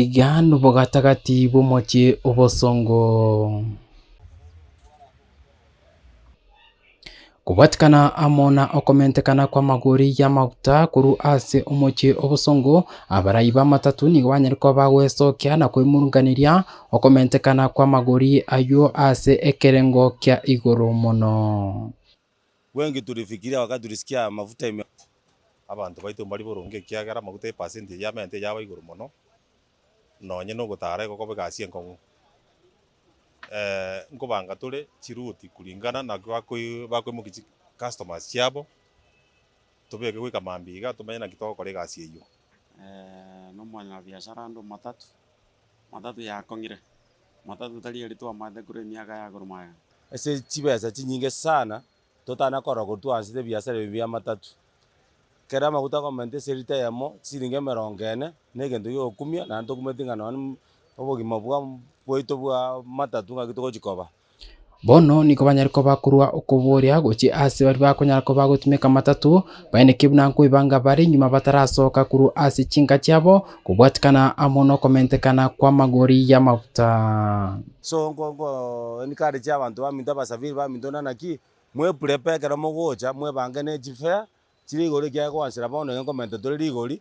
Iga nobogatagati bw'omochie obosongo. Kobwatikana amo na okomentekana kw'amagori y'amaguta korwa ase omochie obosongo, abarai b'amatatũ nigo banyare koba bagwesokia na kwemurunganeria okomentekana kw'amagori ayio ase ekerengo kia igoro mono. Gwenki turifikiria wakati risikia amafuta ime. Abanto baito mbari boronge ekiagera amaguta epasenti eria y'amenta eyaba igoro mono, nonye nogotara egokoba egasi enkong'u. Eeh nkobanga tore chiruti kuringana naki bakoi bakoimokia chi customers chiabo, tobeke goika mambia iga tomenye naki togokora egasi eyio. Nomwanyabiashara ande omatatu, matatu yakong'ire. Matato tarieri twamate korwa emiaka ya korwa magega. Ase chibesa chinyinge sana totana korora korwa twaanchete ebiasara ebi bia matatu. Kera amaguta akomerenta ase lita eyemo chisiringi emerongo ene, negento giokumia naende tokumeti ng'a nonye obogima bwa bwaito bwa matatu ng'aki togochi koba. Bono nigo banyare koba korwa okoboria gochia aase baria bakonyara koba gotumeka amatato, baeneke buna nkoibanga bare nyuma batarasoka korwa ase chinka chiabo, kobwatikana amo nokomentekana kw'amagori y'amaguta. So nko nko encourage abanto baminto abasafiri baminto buna naki, mwe prepare ekero mogocha, mwebange ne chifare chire igoro ekiagera koanchera bono iga nkomenta tore rigori,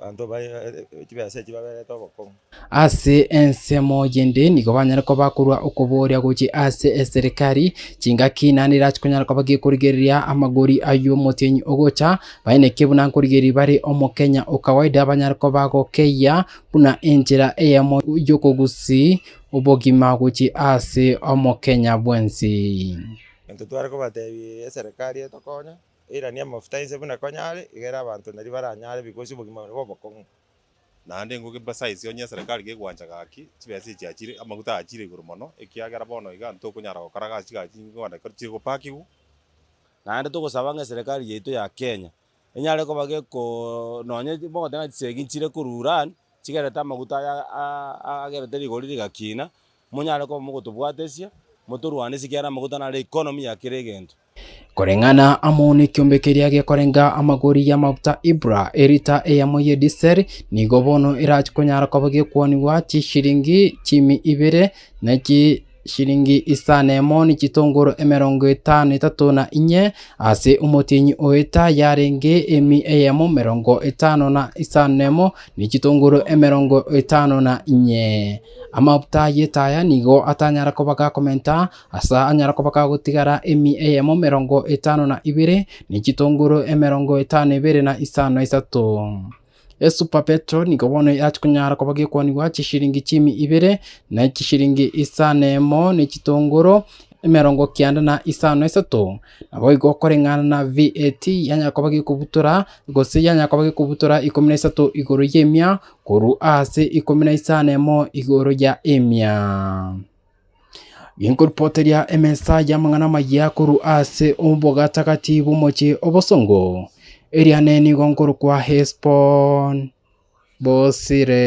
Abanto ba chibesa echi baberete obokong'u. Ase ensemo eyende nigo banyare koba korwa okobooria gochia ase eserikari chingaki naende erache konyara koba gekorigereria amagori ay'omotienyi ogocha, baineke buna nkorigereria bare omokenya o kawaida banyare koba gokeyia buna enchera eyemo y'okogusia obogima gochia ase omokenya bwensi. Egento tware kobatebia eserikari etokonye. Eirania amafuta ense buna konyare, egere abanto nario baranyare bigosia obogima buna bw'obokong'u. Naende ingo gebisa ense onye eserekari gegwancha gaki, chibesa echiachire, amaguta aachire igoro mono, ekiagera bono iga ntokonyara gokora gasi gaki ingo Uganda ekero chire gopakigwa. Naende togosaba ng'a eserekari yaito ya Kenya enyare koba geko nonye mogoteba ng'a chisegi nchire koruran, chigerete amaguta aya aa agerete rigori rigakina, monyare koba mogotobwatesia, motorwanesie ekiagera amaguta naro economy ya kera egento. Koreng'ana amo nekiombe keria gekorenga amagori y'amaguta Ibra, elita eyemo ye diseri, nigo bono erache konyara koba gekwonigwa chishilingi chiimi ibere, na chishilingi isano na emo ne chitongoro emerongo etano na etato na inye, ase omotienyi o elita yarenge emi eyemo emerongo etano na isano na emo, ne chitongoro emerongo etano na inye. Amaguta y'etaya nigo atanyara koba gakomenta. Asa anyare koba kagotigara emi eyemo merongo etano na ibere, ne chitonguru emerongo etano na ibere na isano na isato. Esupa Petero nigo bono erache konyara koba gekwanigwa chishiringi chiumi ibere, na chishiringi isano na emo, ne chitonguru emerongo kianda na isano na isato. Naboigo koreng'ana na VAT yanyara koba gekobutora, gose yanyara koba gekobutora ikomi na isato igoro y'emia, korwa ase ikomi na isano na emo igoro ya emia. Genkoripoteria emesa y'amang'ana amayia korwa ase obogatagati bw'omochie obosongo, eria nenigo nkorokwa Hesbon, Bosire.